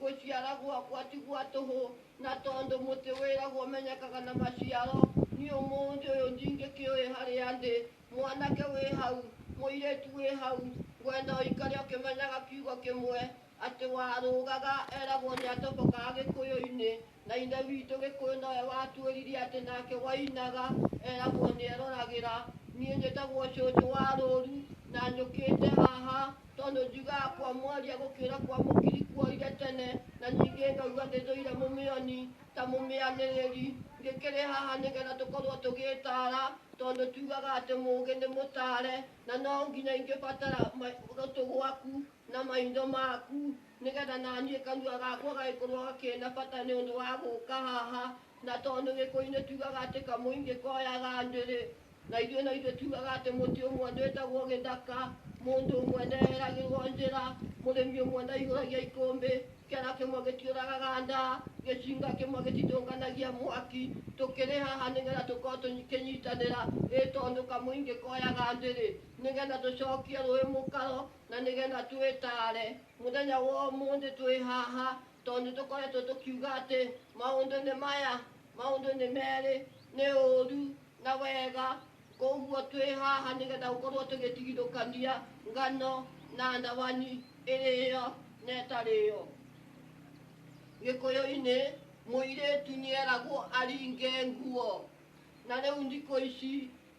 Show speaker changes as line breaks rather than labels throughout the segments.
Gũciara gwakwa ti gwa tũhũ, na tondũ mũtĩ wĩragwo ũmenyekaga na maciaro, niĩ ũmũthĩ ũyũ ndingĩkĩũĩ harĩa ndĩ. Mwanake wĩ hau, mũirĩtu wĩ hau, ngwenda ũikare ũkĩmenyaga kiugo kĩmwe, atĩ warũgaga, eragwo nĩatobokaga Gĩkũyũ-inĩ, Na Ithe witũ Gĩkũyũ nowe watuĩririe atĩ nake Wainaga eragwo nĩeroragĩra. Niĩ njĩtagwo Cũcũ wa Rũũru na njũkĩte haha tondũ njugaga kwa mwaria gũkĩra kwa mũkiri kuoire tene na ningĩ ngaigua ndĩthũire mũmĩoni ta mũmĩanĩrĩri. Ngĩkĩrĩ haha nĩgetha tũkorwo tũgĩĩtaara tondũ tugaga atĩ mũũgĩ nĩ mũtaare na no nginya ingĩbatara gũtũ gwaku na maitho maku nĩ getha na niĩ kanua gakwa gagĩkorwo kena bata nĩ ũndũ wa gũka haha na tondũ gĩkũinĩ tugaga atĩ kamũingĩ koyaga ndĩrĩ na ithuĩ no ithuĩ tugaga atĩ mũtĩ ũmwe ndwĩtagwo gĩthaka mũndũ ũmwe ndeheragĩrwo njĩra mũrĩmi ũmwe ndaihũragia ikũmbĩ kĩara kĩmwe gĩtiũragaga ndaa gĩcinga kĩmwe gĩtithũkanagia mwaki tũkĩrĩ haha nĩ getha tũkorwo tũkĩnyitanĩra ĩ tondũ kamũingĩ koyaga ndĩrĩ nĩ getha tũcokie rũĩ mũkaro Na nĩ getha twĩtaare, mũthenya wa ũmũthĩ twĩ haha tondũ nĩ tũkoretwo tũkiuga atĩ maũndũ nĩ maya, maũndũ nĩ merĩ, nĩ ũũru na wega. Kwoguo twĩ haha nĩ getha gũkorwo tũgĩtigithũkania ngano na ndawani, ĩrĩyo na ĩtarĩyo. Gĩkũyũ-inĩ mũirĩtu nĩ eragwo aringe nguo, na rĩu thikũ ici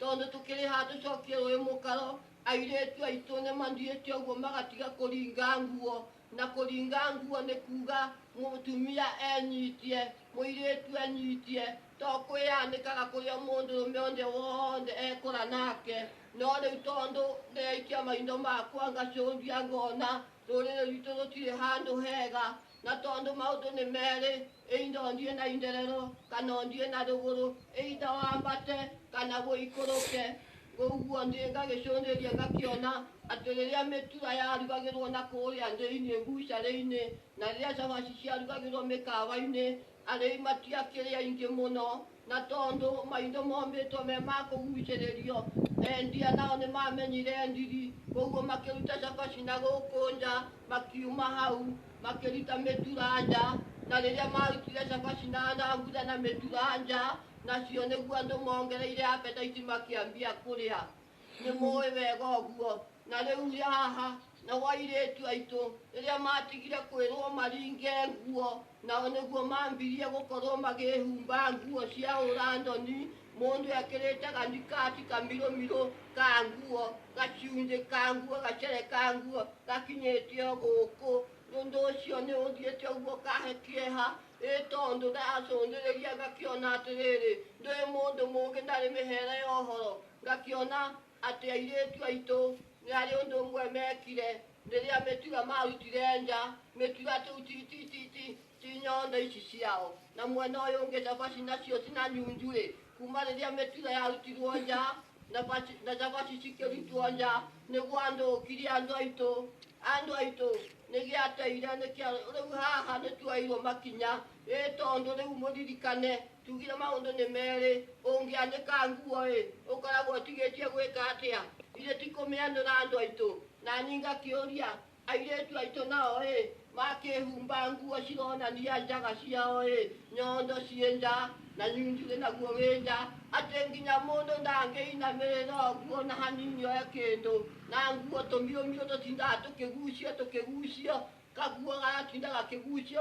tondũ tũkĩrĩ ha tũcokie rũĩ mũkaro airĩtu aitũ nĩ mathiĩte ũguo magatiga kũringa nguo na kũringa nguo nĩ kuga mũtumia enyitie mũirĩtu enyitie to kwĩyanĩkaga kũrĩa mũndũrũme ũrĩa wothe ekũra nake no rĩu tondũ ndĩraikia maitho makwa ngacũthia ngona rũrĩrĩ rwitũ rũtirĩ handũ hega Na tondũ maũndũ nĩ merĩ, either ũthiĩ na itherero kana ũthiĩ na rũgũrũ, either wambate kana ũikũrũke. Ũguo ndĩ ngagĩcũthĩrĩria ngakĩona atĩ rĩrĩa mĩtura yarugagĩrwo na kũũrĩa thĩinĩ mbucarĩ-inĩ, na rĩrĩa cabaci ciarugagĩrwo mĩkawa-inĩ, arĩi matiakĩrĩ aingĩ mũno. Na tondũ maitho mombĩtwo me ma kũgucĩrĩrio, endia nao nĩmamenyire ndiri, kwoguo makĩruta cabaci na gũkũ nja, makiuma hau, makĩruta mĩtura nja. Na rĩrĩa maarutire cabaci na thambutha na mĩtura nja, nacio nĩguo andũ mongereire apetaiti makĩambia kũrĩa. nĩ mũĩ wega ũguo na rĩu ũrĩ haha na wairĩtu aitũ rĩrĩa matigire kwĩrwo maringe nguo nao nĩguo mambirie gũkorwo magĩhumba nguo cia ũrandoni mũndũ ekĩrĩte ganikati kamirũmirũ ka nguo gacunjĩ ka nguo gacere ka nguo gakinyĩte o gũkũ ũndũ ũcio nĩ ũthiĩte ũguo kahe kĩeha ĩ tondũ ndacũthĩrĩria ngakĩona atĩrĩrĩ ndũrĩ mũndũ mũgĩ ndarĩ mĩhere ya ũhoro Ngakĩona atĩ airĩtu aitũ nĩ harĩ ũndũ ũmwe meekire rĩrĩa mĩtura maarutire nja, mĩtura tũu ti, ti, ti, ti, ti nyondo ici ciao, na mwena ũyũ ũngĩ cabaci nacio ti na nyunju-rĩ, kuuma rĩrĩa mĩtura yarutirwo nja na baci- na cabaci cikĩrutwo nja, nĩ gwathũkire andũ aitũ, andũ aitũ nĩ gĩateire, nĩkĩa rĩu haha nĩ tuoeirwo makinya, ĩ tondũ rĩu mũririkane Tugire maũndũ nĩ merĩ, ũngĩanĩka nguo-ĩ, ũkoragwo ũtigĩtie gwĩka atĩa? Githĩ ti kũmĩanũra andũ aitũ? Nani ngakĩũria, airĩtu aitũ nao-ĩ, makĩĩhumba nguo cironania njaga ciao-ĩ, nyondo ciĩ nja, na nyunjurĩ naguo wĩ nja, atĩ nginya mũndũ ndangĩinamĩrĩra ũguo ona hanini oe kĩndũ, na nguo tũmiũmiũ tũtindaga tũkĩgucio tũkĩgucio, kaguo gagatinda gakĩgucio